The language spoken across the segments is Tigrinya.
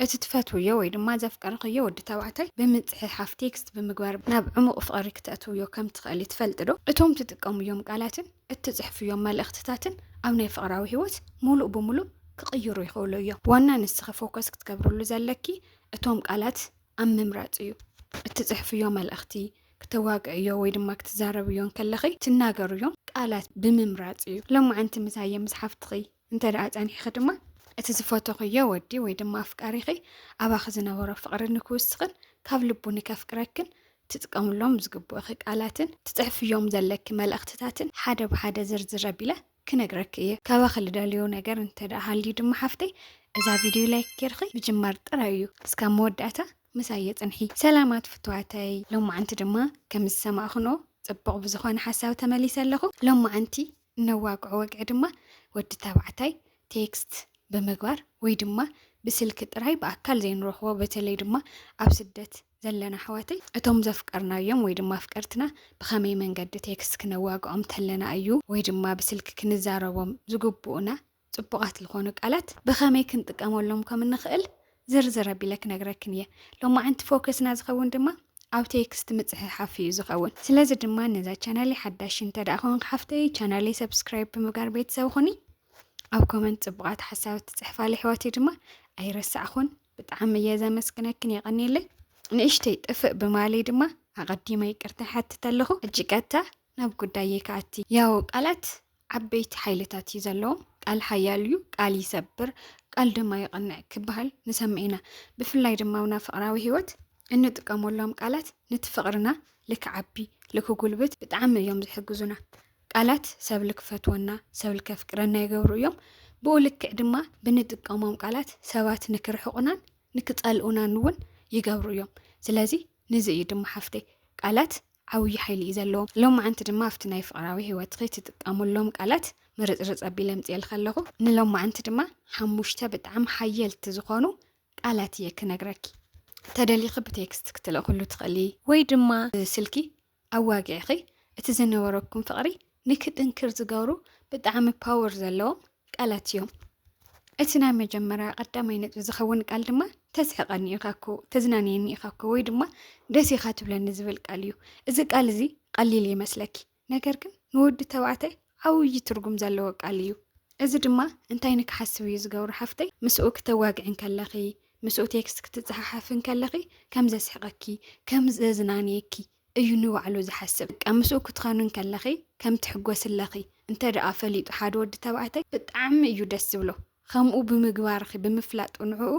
እቲ ትፈትውዮ ወይ ድማ ዘፍቀርኽዮ ወዲ ተባዕታይ ብምጽሕሓፍ፣ ቴክስት፣ ብምግባር ናብ ዕሙቕ ፍቕሪ ክተእትውዮ ከም ትኽእሊ ትፈልጥዶ? እቶም ትጥቀምዮም ቃላትን እትጽሕፍዮም መልእኽትታትን ኣብ ናይ ፍቕራዊ ህይወት ሙሉእ ብሙሉእ ክቕይሩ ይኽእሉ እዮም። ዋና ንስኺ ፎከስ ክትገብርሉ ዘለኪ እቶም ቃላት ኣብ ምምራጽ እዩ። እትጽሕፍዮ መልእኽቲ፣ ክተዋግዕዮ ወይ ድማ ክትዛረብዮ እንከለኺ ትናገርዮም ቃላት ብምምራጽ እዩ። ሎማዕንቲ ምሳየ ምስ ሓፍትኺ እንተ ደኣ ጸኒሕኺ ድማ እቲ ዝፈተኽዮ ወዲ ወይ ድማ ኣፍቃሪኺ ኣባኺ ዝነበሮ ፍቕሪ ንክውስኽን ካብ ልቡ ንከፍቅረክን ትጥቀምሎም ዝግብኡኺ ቃላትን ትጽሕፍዮም ዘለኪ መልእኽትታትን ሓደ ብሓደ ዝርዝር ኣቢለ ክነግረኪ እየ። ካባኺ ልደልዮ ነገር እንተ ደኣ ሃልዩ ድማ ሓፍተይ እዛ ቪድዮ ላይክ ጌርኺ ምጅማር ጥራይ እዩ። እስካብ መወዳእታ ምሳይ የጽንሒ። ሰላማት ፍቱዋተይ ሎማዓንቲ ድማ ከም ዝሰማእክንኦ ጽቡቕ ብዝኾነ ሓሳብ ተመሊሰ ኣለኹ። ሎማዓንቲ እነዋግዖ ወግዒ ድማ ወዲ ተባዕታይ ቴክስት ብምግባር ወይ ድማ ብስልኪ ጥራይ ብኣካል ዘይንረኽቦ በተለይ ድማ ኣብ ስደት ዘለና ኣሕዋተይ እቶም ዘፍቀርናዮም ወይ ድማ ኣፍቀርትና ብኸመይ መንገዲ ቴክስት ክነዋግዖም ተለና እዩ ወይ ድማ ብስልኪ ክንዛረቦም ዝግብኡና ጽቡቓት ዝኾኑ ቃላት ብኸመይ ክንጥቀመሎም ከም እንኽእል ዝርዝር ኣቢለ ክነግረክን እየ። ሎማዕንቲ ፎከስና ዝኸውን ድማ ኣብ ቴክስት ምጽሕሓፍ እዩ ዝኸውን። ስለዚ ድማ ነዛ ቻናለይ ሓዳሽ እንተ ደኣ ኮንክ ሓፍተይ ቻናለይ ሰብስክራይብ ብምግባር ቤተሰብ ኹኒ። ኣብ ኮመንት ጽቡቓት ሓሳባት ትጽሕፋለ ኣሕዋተይ ድማ ኣይረሳዕኹን። ብጣዕሚ እየ ዘመስግነክን የቐንየለይ። ንእሽተይ ጥፍእ ብማለይ ድማ ኣቐዲመ ይቅርታ ይሓትት ኣለኹ። ሕጂ ቀጥታ ናብ ጉዳየይ ክኣቲ ያው ቃላት ዓበይቲ ሓይልታት እዩ ዘለዎም ቃል ሓያል እዩ ቃል ይሰብር ቃል ድማ ይቐንዕ ክበሃል ንሰምዕ ኢና ብፍላይ ድማ ኣብና ፍቕራዊ ህይወት እንጥቀመሎም ቃላት ነቲ ፍቕርና ልክዓቢ ልክጉልብት ብጣዕሚ እዮም ዝሕግዙና ቃላት ሰብ ልክፈትወና ሰብ ልከፍቅረና ይገብሩ እዮም ብኡ ልክዕ ድማ ብንጥቀሞም ቃላት ሰባት ንክርሕቑናን ንክጸልኡናን እውን ይገብሩ እዮም ስለዚ ንዚ እዩ ድማ ሓፍተይ ቃላት ዓብዪ ሓይሊ እዩ ዘለዎ። ሎማዓንቲ ድማ ኣብቲ ናይ ፍቕራዊ ህይወትኺ ትጥቀሙሎም ቃላት ምርፅርፅ ኣቢለ ኣምፅኤልኺ ኣለኹ። ንሎማዓንቲ ድማ ሓሙሽተ ብጣዕሚ ሓየልቲ ዝኾኑ ቃላት እየ ክነግረኪ። ተደሊኺ ብቴክስት ክትልእኽሉ ትኽእሊ ወይ ድማ ብስልኪ ኣዋጊዕኺ እቲ ዝነበረኩም ፍቕሪ ንክጥንክር ዝገብሩ ብጣዕሚ ፓወር ዘለዎም ቃላት እዮም። እቲ ናይ መጀመርያ ቀዳማይ ነጥቢ ዝኸውን ቃል ድማ ተስሕቐኒ ኢኻ እኮ፣ ተዝናንየኒ ኢኻ እኮ ወይ ድማ ደስ ኢኻ ትብለኒ ዝብል ቃል እዩ። እዚ ቃል እዚ ቀሊል ይመስለኪ፣ ነገር ግን ንወዲ ተባዕታይ ዓብዪ ትርጉም ዘለዎ ቃል እዩ። እዚ ድማ እንታይ ንክሓስብ እዩ ዝገብሮ ሓፍተይ፣ ምስኡ ክተዋግዒ እንከለኺ፣ ምስኡ ቴክስት ክትፀሓሓፊ እንከለኺ ከም ዘስሕቐኪ፣ ከም ዘዝናንየኪ እዩ ንባዕሉ ዝሓስብ። በቃ ምስኡ ክትኸኑ እንከለኺ ከም ትሕጎስለኺ እንተ ደኣ ፈሊጡ ሓደ ወዲ ተባዕታይ ብጣዕሚ እዩ ደስ ዝብሎ። ከምኡ ብምግባርኺ ብምፍላጡ ንዕኡ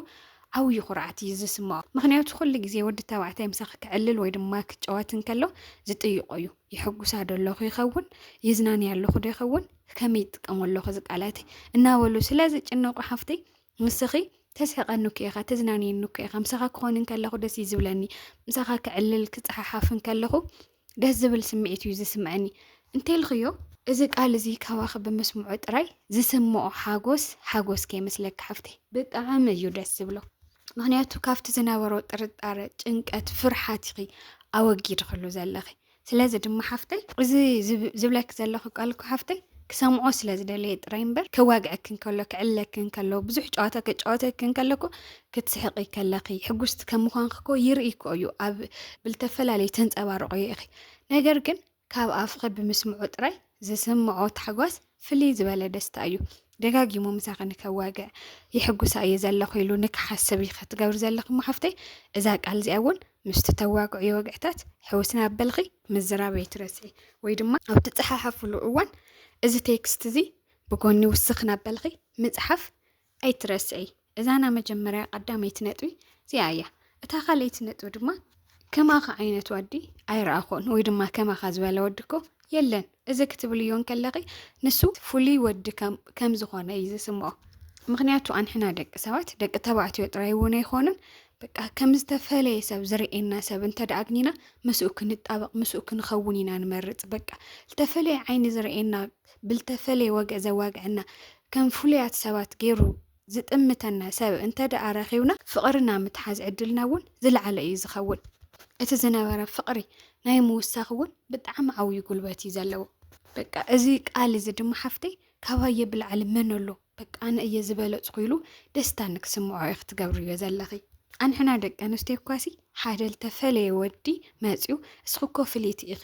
ዓብዩ ኩርዓት እዩ ዝስምዖ። ምኽንያቱ ኩሉ ግዜ ወዲ ተባዕታይ ምሳኺ ከዕልል ወይ ድማ ክጫወት እንከሎ ዝጥይቆ እዩ። የሕጉሳ ዶ ኣለኹ ይኸውን? የዝናንያ ኣለኹ ዶ ይኸውን? ከመይ ይጥቀሞ ኣለኹ እዚ ቃላተይ? እናበሉ ስለ ዝጭነቁ ሓፍተይ ንስኺ ተስሕቐኒ እኮ ኢኻ ተዝናንየኒ እኮ ኢኻ ምሳኻ ክኾን እንከለኹ ደስ እዩ ዝብለኒ ምሳኻ ክዕልል ክጸሓሓፍ እንከለኹ ደስ ዝብል ስምዒት እዩ ዝስምዐኒ እንተልኽዮ እዚ ቃል እዚ ካባኺ ብምስምዑ ጥራይ ዝስምዖ ሓጎስ ሓጎስ ከይመስለኪ ሓፍተይ ብጣዕሚ እዩ ደስ ዝብሎ ምክንያቱ ካብቲ ዝነበሮ ጥርጣረ ጭንቀት ፍርሓት ኢኺ ኣወጊድክሉ ዘለኺ ስለዚ ድማ ሓፍተይ እዚ ዝብለኪ ዘለኹ ቃል እኮ ሓፍተይ ክሰምዖ ስለ ዝደለየ ጥራይ እምበር ከዋግዐኪ እንከሎ ክዕለኪ እንከሎ ብዙሕ ጨዋታ ከጫወተኪ እንከሎ እኮ ክትስሕቂ ከለኺ ሕጉስቲ ከም ምዃንኪ እኮ ይርኢ እኮ እዩ ኣብ ብልተፈላለዩ ተንፀባርቆ ኢኺ ነገር ግን ካብ ኣፍኺ ብምስምዑ ጥራይ ዝስምዖ ታሕጓስ ፍልይ ዝበለ ደስታ እዩ። ደጋጊሙ ምሳኺ ንከዋግዕ የሕጉሳ እየ ዘለኹ ኢሉ ንክሓስብ እዩ ክትገብሪ ዘለኺ እሞ ሓፍተይ እዛ ቃል እዚኣ እውን ምስቲ ተዋግዕዮ ወግዕታት ሕውስ እናበልኺ ምዝራብ ኣይትረስዒ ወይ ድማ ኣብ ትፀሓሓፍሉ እዋን እዚ ቴክስት እዚ ብጎኒ ውስኽ እናበልኺ ምፅሓፍ ኣይትረስዒ እዛ ናይ መጀመርያ ቀዳመይቲ ነጥቢ እዚኣ እያ። እታ ካልኣይቲ ነጥቢ ድማ ከማኻ ዓይነት ወዲ ኣይረኣኹን ወይ ድማ ከማኻ ዝበለ ወዲ እኮ የለን እዚ ክትብልዮ እንከለኺ ንሱ ፍሉይ ወዲ ከም ዝኾነ እዩ ዝስምኦ። ምክንያቱ ኣንሕና ደቂ ሰባት ደቂ ተባዕትዮ ጥራይ እውን ኣይኮኑን በቃ ከም ዝተፈለየ ሰብ ዝርእየና ሰብ እንተ ኣግኝና ምስኡ ክንጣበቕ ምስኡ ክንኸውን ኢና ንመርፅ። በቃ ዝተፈለየ ዓይኒ ዝርእየና ብልተፈለየ ወግዒ ዘዋግዐና፣ ከም ፍሉያት ሰባት ገይሩ ዝጥምተና ሰብ እንተድኣ ረኺብና፣ ፍቕሪ ናብ ምትሓዝ ዕድልና እውን ዝለዓለ እዩ ዝኸውን። እቲ ዝነበረ ፍቕሪ ናይ ምውሳኽ እውን ብጣዕሚ ዓብዩ ጉልበት እዩ ዘለዎ። በቃ እዚ ቃል እዚ ድማ ሓፍተይ ካባየ ብላዕሊ መን ኣሎ? በቃ ኣነ እየ ዝበለፅኩ ኢሉ ደስታ ንክስምዖ ኢኺ ትገብርዮ ዘለኺ። ኣንሕና ደቂ ኣንስትዮ እኳሲ ሓደ ልተፈለየ ወዲ መፅዩ እስኺ እኮ ፍልይቲ ኢኺ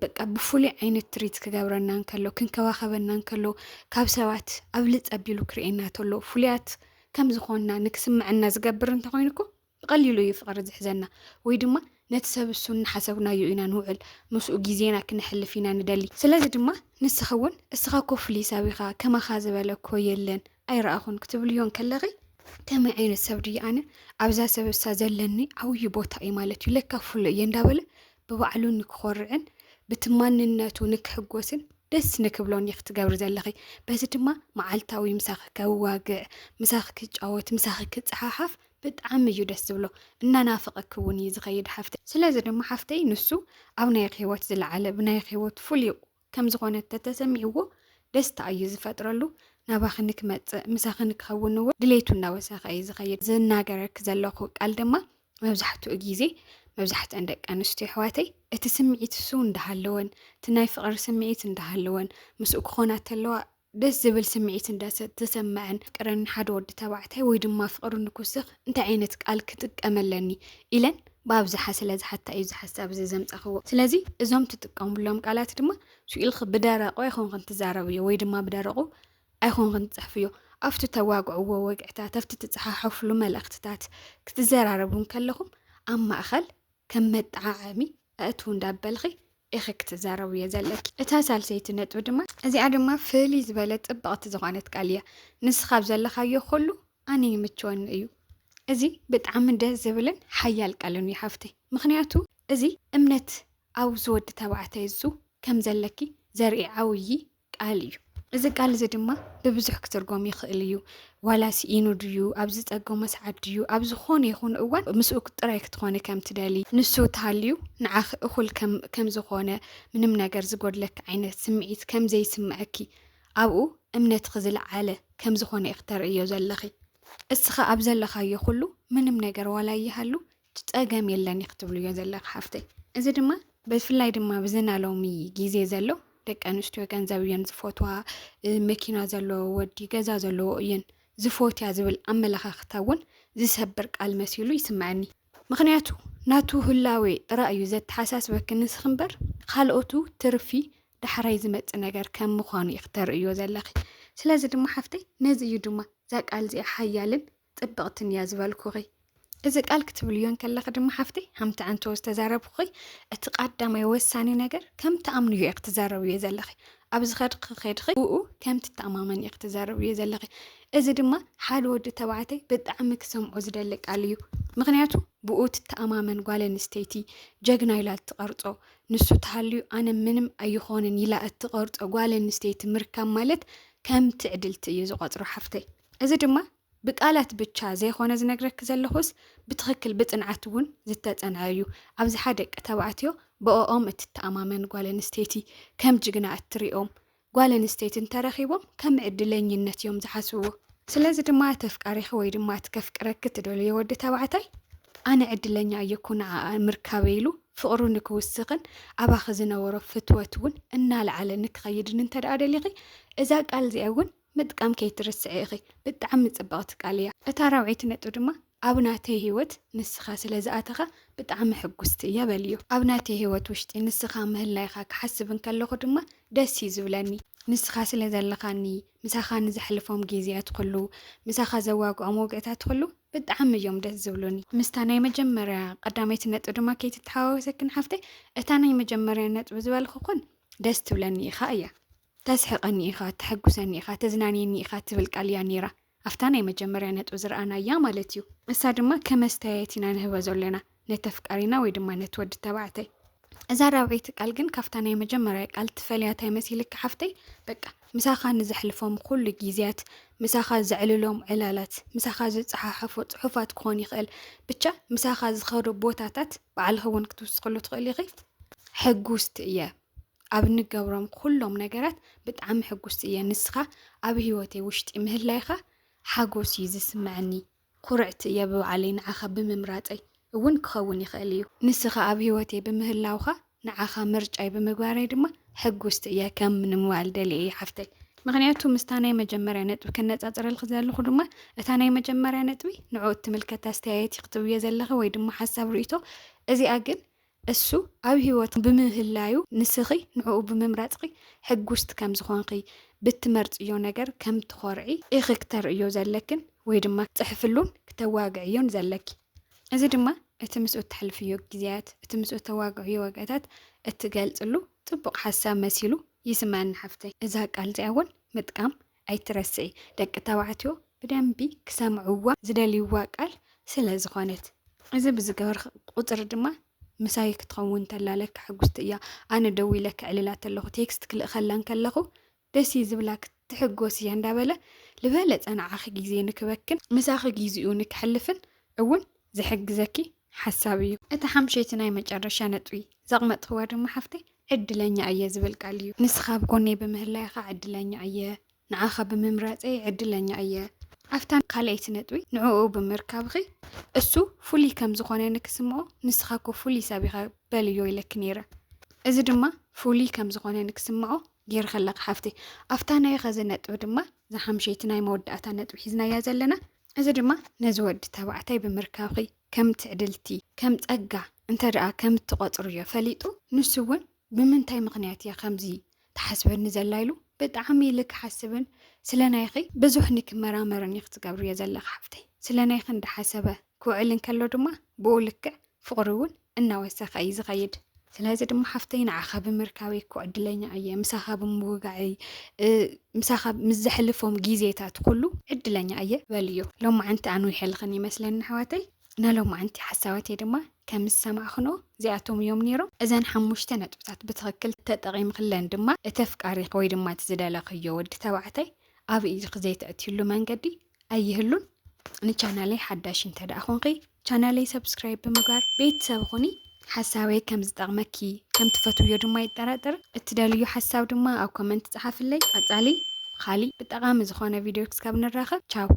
በቃ ብፍሉይ ዓይነት ትሪት ክገብረና እንከሎ ክንከባኸበና እንከሎ ካብ ሰባት ኣብልፅ ኣቢሉ ክርእየና ተሎ ፍሉያት ከም ዝኾንና ንክስምዐና ዝገብር እንተኾይኑ እኮ ብቐሊሉ እዩ ፍቕሪ ዝሕዘና ወይ ድማ ነቲ ሰብ እሱ እናሓሰብናዮ ኢና ንውዕል፣ ምስኡ ግዜና ክነሕልፍ ኢና ንደሊ። ስለዚ ድማ ንስኺ እውን እስኻ እኮ ፍሉይ ሰብ ኢኻ፣ ከማኻ ዝበለ እኮ የለን፣ ኣይረኣኹን ክትብልዮ እንከለኺ፣ ከመይ ዓይነት ሰብ ድየ ኣነ፣ ኣብዛ ሰብ እሳ ዘለኒ ዓብዪ ቦታ እዩ ማለት እዩ፣ ለካ ፍሉይ እየ እንዳበለ ብባዕሉ ንክኾርዕን ብቲ ማንነቱ ንክሕጎስን ደስ ንክብሎን እዩ ክትገብሪ ዘለኺ። በዚ ድማ መዓልታዊ ምሳኺ ከዋግዕ፣ ምሳኺ ክጫወት፣ ምሳኺ ክፀሓሓፍ ብጣዕሚ እዩ ደስ ዝብሎ እናናፈቐኪ እውን እዩ ዝኸይድ ሓፍተይ ስለዚ ድማ ሓፍተይ ንሱ ኣብ ናይክ ህይወት ዝለዓለ ብናይክ ህይወት ፍሉይ ከም ዝኾነ ተተሰሚዕዎ ደስታ እዩ ዝፈጥረሉ ናባኺ ንክመፅእ ምሳኺ ንክኸውን እውን ድሌቱ እናወሰኸ እዩ ዝኸይድ ዝናገረኪ ዘለኹ ቃል ድማ መብዛሕትኡ ግዜ መብዛሕትአን ደቂ ኣንስትዮ ኣሕዋተይ እቲ ስምዒት እሱ እንዳሃለወን እቲ ናይ ፍቕሪ ስምዒት እንዳሃለወን ምስኡ ክኾና ተለዋ ደስ ዝብል ስምዒት እንዳ ተሰመዐን ፍቅሪ ንሓደ ወዲ ተባዕታይ ወይ ድማ ፍቅሪ ንክውስኽ እንታይ ዓይነት ቃል ክጥቀም ኣለኒ ኢለን ብኣብዝሓ ስለ ዝሓታ እዩ እዚ ሓሳብ እዚ ዘምጻኽዎ። ስለዚ እዞም ትጥቀምሎም ቃላት ድማ ስኢልኺ ብደረቁ ኣይኮንክን ትዛረብዮ ወይ ድማ ብደረቁ ኣይኮንክን ትጽሕፍዮ። ኣብቲ ተዋግዕዎ ወግዕታት፣ ኣብቲ ትጸሓሓፍሉ መልእኽትታት ክትዘራረቡ እንከለኹም ኣብ ማእኸል ከም መጠዓዓሚ ኣእትው እንዳበልኺ ኢኺ ክትዛረብዮ ዘለኪ። እታ ሳልሰይቲ ነጥቢ ድማ። እዚኣ ድማ ፍልይ ዝበለት ጽብቕቲ ዝኾነት ቃል እያ። ንስኻ ኣብ ዘለኻዮ ኩሉ ኣነ ይምችወኒ እዩ። እዚ ብጣዕሚ ደስ ዝብልን ሓያል ቃልን እዩ ሓፍተይ። ምኽንያቱ እዚ እምነት ኣብዚ ወዲ ተባዕታይ እዙ ከም ዘለኪ ዘርኢ ዓውዪ ቃል እዩ። እዚ ቃል እዚ ድማ ብብዙሕ ክትርጎም ይኽእል እዩ። ዋላ ስኢኑ ድዩ ኣብ ዝፀገሞ ሰዓት ድዩ ኣብ ዝኾነ ይኹን እዋን ምስኡ ጥራይ ክትኾኒ ከም ትደሊ ንሱ ተሃልዩ ንዓኺ እኹል ከም ዝኾነ ምንም ነገር ዝጎድለኪ ዓይነት ስምዒት ከም ዘይስምዐኪ ኣብኡ እምነትኺ ዝለዓለ ከም ዝኾነ ኢኺ ተርእዮ ዘለኺ። እስኻ ኣብ ዘለኻዮ ኩሉ ምንም ነገር ዋላ ይሃሉ ጸገም የለን እዩ ክትብልዮ ዘለካ ሓፍተይ እዚ ድማ ብፍላይ ድማ ብዘና ሎሚ ግዜ ዘሎ ደቂ ኣንስትዮ ገንዘብ እየን ዝፈትዋ መኪና ዘለዎ ወዲ ገዛ ዘለዎ እየን ዝፎትያ ዝብል ኣመለኻኽታ እውን ዝሰብር ቃል መሲሉ ይስምዐኒ ምክንያቱ ናቱ ህላዌ ጥራይ እዩ ዘተሓሳስበኪ ንስኺ እምበር ካልኦቱ ትርፊ ዳሕራይ ዝመፅ ነገር ከም ምዃኑ እዩ ክተርእዮ ዘለኺ ስለዚ ድማ ሓፍተይ ነዚ እዩ ድማ እዛ ቃል እዚኣ ሓያልን ጽብቕትን እያ ዝበልኩኺ እዚ ቃል ክትብልዮ እንከለኺ ድማ ሓፍተይ ሃምቲ ኣንተወ ዝተዛረብኹኺ እቲ ቃዳማይ ወሳኒ ነገር ከም ትኣምንዮ ኢኺ ትዛረብዮ ዘለኺ ኣብ ዝኸድኺ ከድኺ ብኡ ከም ትተኣማመን ኢኺ ትዛረብዮ ዘለኺ እዚ ድማ ሓደ ወዲ ተባዕተይ ብጣዕሚ ክሰምዖ ዝደሊ ቃል እዩ ምክንያቱ ብኡ ትተኣማመን ጓል ኣንስተይቲ ጀግና ኢላ እትቐርጾ ንሱ ተሃልዩ ኣነ ምንም ኣይኾንን ኢላ እትቐርጾ ጓል ኣንስተይቲ ምርካብ ማለት ከም ትዕድልቲ እዩ ዝቖጽሮ ሓፍተይ እዚ ድማ ብቃላት ብቻ ዘይኾነ ዝነግረኪ ዘለኹስ ብትኽክል ብፅንዓት እውን ዝተፀንዐ እዩ። ኣብዝሓ ደቂ ተባዕትዮ ብኦኦም እትተኣማመን ጓል ኣንስተይቲ ከም ጅግና እትሪኦም ጓል ኣንስተይቲ እንተረኺቦም ከም ዕድለኝነት እዮም ዝሓስብዎ። ስለዚ ድማ እቲ ኣፍቃሪኺ ወይ ድማ እቲ ከፍቅረኪ እትደልዮ ወዲ ተባዕታይ ኣነ ዕድለኛ እየ እኮ ንዓኣ ምርካበይ ኢሉ ፍቕሩ ንክውስኽን ኣባኺ ዝነበሮ ፍትወት እውን እናልዓለ ንክኸይድን እንተደኣ ደሊኺ እዛ ቃል እዚኣ እውን ምጥቃም ከይትርስዒ ኢኺ ብጣዕሚ ጽብቕቲ ቃል እያ እታ ራብዐይቲ ነጥቢ ድማ ኣብ ናተይ ሂወት ንስኻ ስለ ዝኣተኻ ብጣዕሚ ሕጉስቲ እየ በልዮ ኣብ ናተይ ሂወት ውሽጢ ንስኻ ምህላይኻ ክሓስብ እንከለኹ ድማ ደስ እዩ ዝብለኒ ንስኻ ስለ ዘለኻኒ ምሳኻ ንዘሕልፎም ጊዝያት ኹሉ ምሳኻ ዘዋግዖም ወግዕታት ኹሉ ብጣዕሚ እዮም ደስ ዝብሉኒ። ምስታ ናይ መጀመርያ ቀዳመይቲ ነጥቢ ድማ ከይትተሓዋወሰክን ሓፍተይ እታ ናይ መጀመርያ ነጥቢ ዝበልኹክን ደስ ትብለኒ ኢኻ እያ። ተስሕቐኒ ኢኻ፣ ተሐጉሰኒ ኢኻ፣ ተዝናንየኒ ኢኻ ትብል ቃል እያ ነይራ፣ ኣብታ ናይ መጀመርያ ነጥቢ ዝረኣናያ ማለት እዩ። ንሳ ድማ ከም ኣስተያየት ኢና ንህቦ ዘሎና ነተፍቃሪና ወይ ድማ ነቲ ወዲ ተባዕታይ። እዛ ራብዐይቲ ቃል ግን ካብታ ናይ መጀመርያ ቃል ትፈልያ እንታይ መሲልኪ ሓፍተይ? በቃ ምሳኻ ንዘሕልፎም ኩሉ ግዜያት፣ ምሳኻ ዘዕልሎም ዕላላት፣ ምሳኻ ዝጸሓሓፎ ጽሑፋት ክኾን ይኽእል፣ ብቻ ምሳኻ ዝኸዶ ቦታታት ባዕልኺ እውን ክትውስኽሉ ትኽእሊ ኢኺ። ሕጉስቲ እየ። ኣብ እንገብሮም ኩሎም ነገራት ብጣዕሚ ሕጉስቲ እየ ንስኻ ኣብ ህይወተይ ውሽጢ ምህላይኻ ሓጎስ እዩ ዝስምዐኒ ኩርዕቲ እየ ብባዕለይ ንዓኻ ብምምራፀይ እውን ክኸውን ይኽእል እዩ ንስኻ ኣብ ህይወተይ ብምህላውኻ ንዓኻ ምርጫይ ብምግባረይ ድማ ሕጉስቲ እየ ከም ንምባል ደልየ እየ ሓፍተይ ምክንያቱ ምስታ ናይ መጀመርያ ነጥቢ ከነፃፅረልክ ዘለኹ ድማ እታ ናይ መጀመርያ ነጥቢ ንዑ እትምልከት ኣስተያየት ክትብየ ዘለኸ ወይ ድማ ሓሳብ ርእቶ እዚኣ ግን እሱ ኣብ ህይወት ብምህላዩ ንስኺ ንዕኡ ብምምራጽኺ ሕጉስቲ ከም ዝኾንኺ፣ ብትመርጽዮ ነገር ከም ትኾርዒ ኢኺ ክተርእዮ ዘለክን ወይ ድማ ክትጽሕፍሉን ክተዋግዕዮን ዘለኪ። እዚ ድማ እቲ ምስኡ እተሕልፍዮ ግዜያት፣ እቲ ምስኡ እተዋግዕዮ ዋጋታት እትገልጽሉ ጽቡቕ ሓሳብ መሲሉ ይስመኣኒ ሓፍተይ። እዛ ቃል እዚኣ እውን ምጥቃም ኣይትረስዒ ደቂ ተባዕትዮ ብደንቢ ክሰምዕዋ ዝደልይዋ ቃል ስለ ዝኾነት። እዚ ብዝገበርኺ ቁጽሪ ድማ ምሳይ ክትኸውን እንተላ ለከ ሕጉስቲ እያ። ኣነ ደዊለ ከዕልላ ተለኹ ቴክስት ክልእኸላ እንከለኹ ደስ እዩ ዝብላ ክትሕጎስ እያ እንዳበለ ልበለጸ ንዓኺ ግዜ ንክበክን ምሳኺ ግዜኡ ንከሕልፍን እውን ዝሕግዘኪ ሓሳብ እዩ። እታ ሓምሸይቲ ናይ መጨረሻ ነጥቢ ዘቕመጥክዋ ድማ ሓፍተይ ዕድለኛ እየ ዝብል ቃል እዩ። ንስኻ ኣብ ጎነይ ብምህላይኻ ዕድለኛ እየ፣ ንዓኻ ብምምራጸይ ዕድለኛ እየ። ኣብታ ካልኣይቲ ነጥቢ ንዕኡ ብምርካብኺ እሱ ፍሉይ ከም ዝኾነ ንክስምኦ ንስኻ እኮ ፍሉይ ሰብ ኢኻ በልዮ ኢለኪ ነይረ። እዚ ድማ ፍሉይ ከም ዝኾነ ንክስምዖ ጌርኺ ኣለኺ ሓፍተይ። ኣብታ ናይ ኸዚ ነጥቢ ድማ እዛ ሓምሸይቲ ናይ መወዳእታ ነጥቢ ሒዝናያ ዘለና እዚ ድማ ነዚ ወዲ ተባዕታይ ብምርካብኺ ከም ትዕድልቲ፣ ከም ጸጋ እንተ ደኣ ከም እትቖጽርዮ ፈሊጡ፣ ንሱ እውን ብምንታይ ምኽንያት እያ ከምዚ ትሓስበኒ ዘላ ኢሉ ብጣዕሚ ኢሊ ክሓስብን ስለ ናይኺ ብዙሕ ንክመራመርን ኢኺ ትገብርዮ ዘለኺ ሓፍተይ። ስለ ናይኺ እንዳሓሰበ ክውዕል እንከሎ ድማ ብኡ ልክዕ ፍቕሪ እውን እናወሰኸ እዩ ዝኸይድ። ስለዚ ድማ ሓፍተይ ንዓኻ ብምርካበይ እኮ ዕድለኛ እየ ምሳኻ ብምውጋዐይ ምሳኻ ምስ ዘሕልፎም ግዜታት ኩሉ ዕድለኛ እየ በልዮ ሎማዓንቲ ኣንዊሐልኽን ይመስለኒ ኣሕዋተይ ነሎማዓንቲ ሓሳባተይ ድማ ከም ዝሰማዕኽኖ እዚኣቶም እዮም ነይሮም እዘን ሓሙሽተ ነጥብታት ብትኽክል ተጠቒምክለን ድማ እቲ ኣፍቃሪኺ ወይ ድማ እቲ ዝደለኽዮ ወዲ ተባዕታይ ኣብ ኢድኺ ዘይተእትዩሉ መንገዲ ኣይህሉን ንቻናለይ ሓዳሽ እንተደኣ ኾንኺ ቻናለይ ሰብስክራይብ ብምግባር ቤተሰብ ኹኒ። ሓሳበይ ከም ዝጠቕመኪ ከም ትፈትውዮ ድማ ኣይጠራጠርን። እትደልይዮ ሓሳብ ድማ ኣብ ኮመንት ፀሓፍለይ። ቐፃሊ ኻሊእ ብጠቓሚ ዝኾነ ቪድዮ ክስካብ ንራኸብ ቻው።